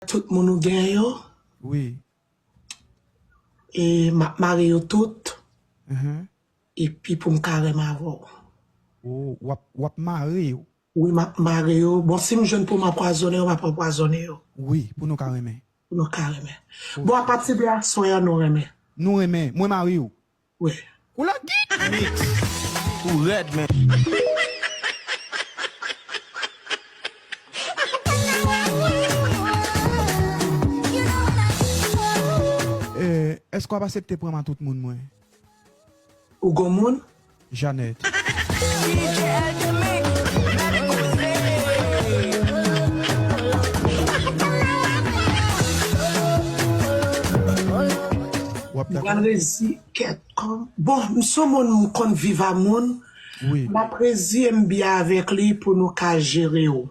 Tout moun ou gen yo. Wi. E map mare yo tout. Uhmm. E pi poum ka renm avèw. Oh wap wap mare yo. Wi map mare yo. Bon sim jwenn poum anpwazone yo map anpwazone yo. Wi pou nou ka renmen. Pou nou ka renmen. Bon apati de aswè an nou renmen. Nou renmen. Mwen mare yo. Wè kou la git mix ou rèd menn. Eske wap asepte pranm a tout moun mwen. Ou gon moun? Jeannette. Wap dakò? Mwen rezi kèt an. Bon, m son moun m konn viv a moun, m ap reziye m byen avèk li pou nou ka jere w.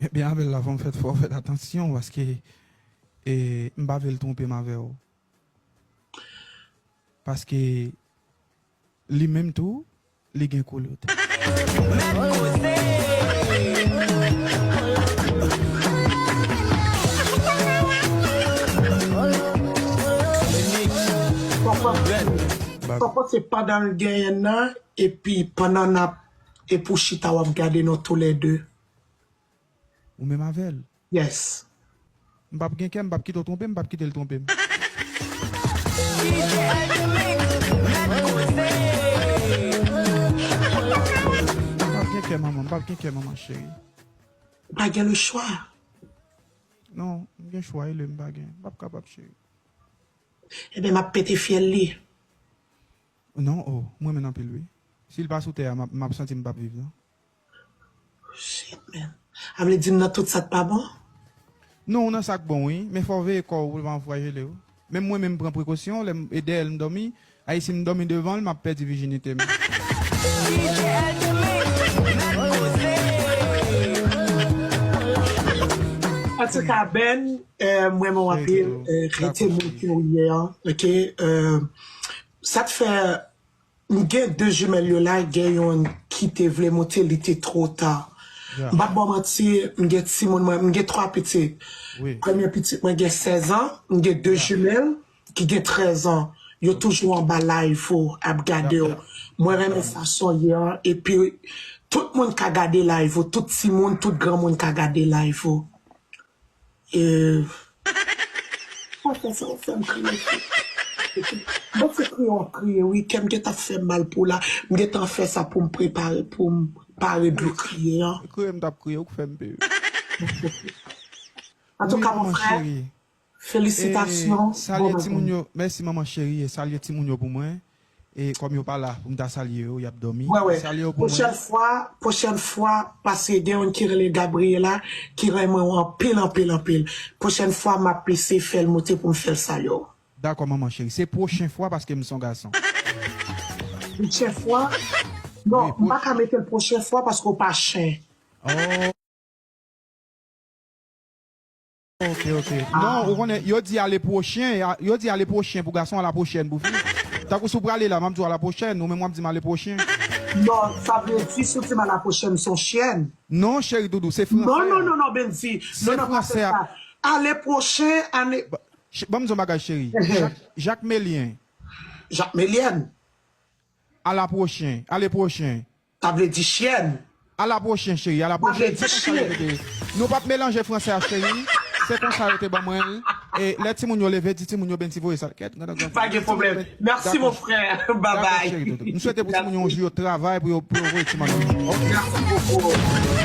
Mwen byen avè l la fò m fè fò fèt atansyon paske m pa vle l twonpe m avè w. Paske Li menm tou li gen kulot. Papa se pandan l genyen nan epi pandan nap epou chita wap gade nou tou lè 2. Ou menm avèl. Yes. M pap gen kè, m pap kite w twonpe m, m pap kite l twonpe m. M pap gen kè manman, m pap gen kè manman cheri. Ou pa gen le chwa. Non, m gen chwa e le m pa gen. M pap kapab cheri. Eben m ap pete fyèl li. Non, oh, m renmen l anpil wi. Si l pa sou tè a, m ap santi m pap viv non. Shit man. A vle di m nan tout sak pa bon? Non ou nan sak bon wi, men fòw veye kòw poul pa anfwajelew. Menm mwen menm m pran prekosyon lèm e dèyèl m dòmi, ay sim dòmi devanl map pèdi vijinite m. Antouka Ben m renmen w anpil rete moun ki ou ye an ok sa t fè M gen 2 jumelle yo la gen youn ki te vle moute li te two ta m pap baw manti m gen timoun mwen m gen 3 pitit premye pitit mwen gen 16 an m gen 2 jumelle ki gen 13 an yo toujou anba live ou ap gadew mwen renmen fason ye an epi tout moun ka gade live ou tout timoun tout granmoun ka gade live ou. Afè sa ou fèm kriye cheri. Bon se kriye wap kriye wi kèm gentan fèm mal pou la m gentan fè sa poum prepare poum pare dlo kriye an. Se kriye m tap kriye ou k fèm pu. Antouka mon frè felisitasyon bon bagay. Merci manman cherie salye timoun yo pou mwen. E kòm yo pa la pou m ta salye yo, y ap dòmi. Wè wè. Salye yo pou mwen. Pwochèn fwa, pwochèn fwa, paske gen youn ki rele Gabriela ki renmen w anpil, anpil, anpil. Pwochèn fwa m ap eseye fè l moute pou m fè l salye w. Dakò manman cheri. Se pwochen fwa paske m s on gason. Pwochen fwa? Non, m pa ka mete l pwochen fwa paske w pa chen. Oh! Ok ok non ou konnen yo di ale pwochen yo di ale pwochen pou gason ala pwochèn pou fi tankou si w prale la map di w ala pwochèn ou menm wap di m ale pwochen. Non sa vle di si w di m ala pwochèn m son chyèn. Non cheri doudou se fransè a. Non non non Benndy non non pa fè sa ale pwochen ale. Banm di w yon bagay cheri jakmelyen. Jakmelyèn. Ala pwochen ale pwochen. Ta vle di chyèn. A la pwochen cheri, a la pwochen, se konsa yo rete. Nou pap melanje fransè a cheri, se konsa yo te ban mwen l. E lè timoun yo leve, di timoun yo Bendy voye sa. Kèt, gadon granfè. Pa gen pwoblèm. Mèsi mon frè. Dako cheri dodo. M swete pou timoun yo yon jou yo travay pou yo voye ti manmi yo. Ok. Merci beaucoup.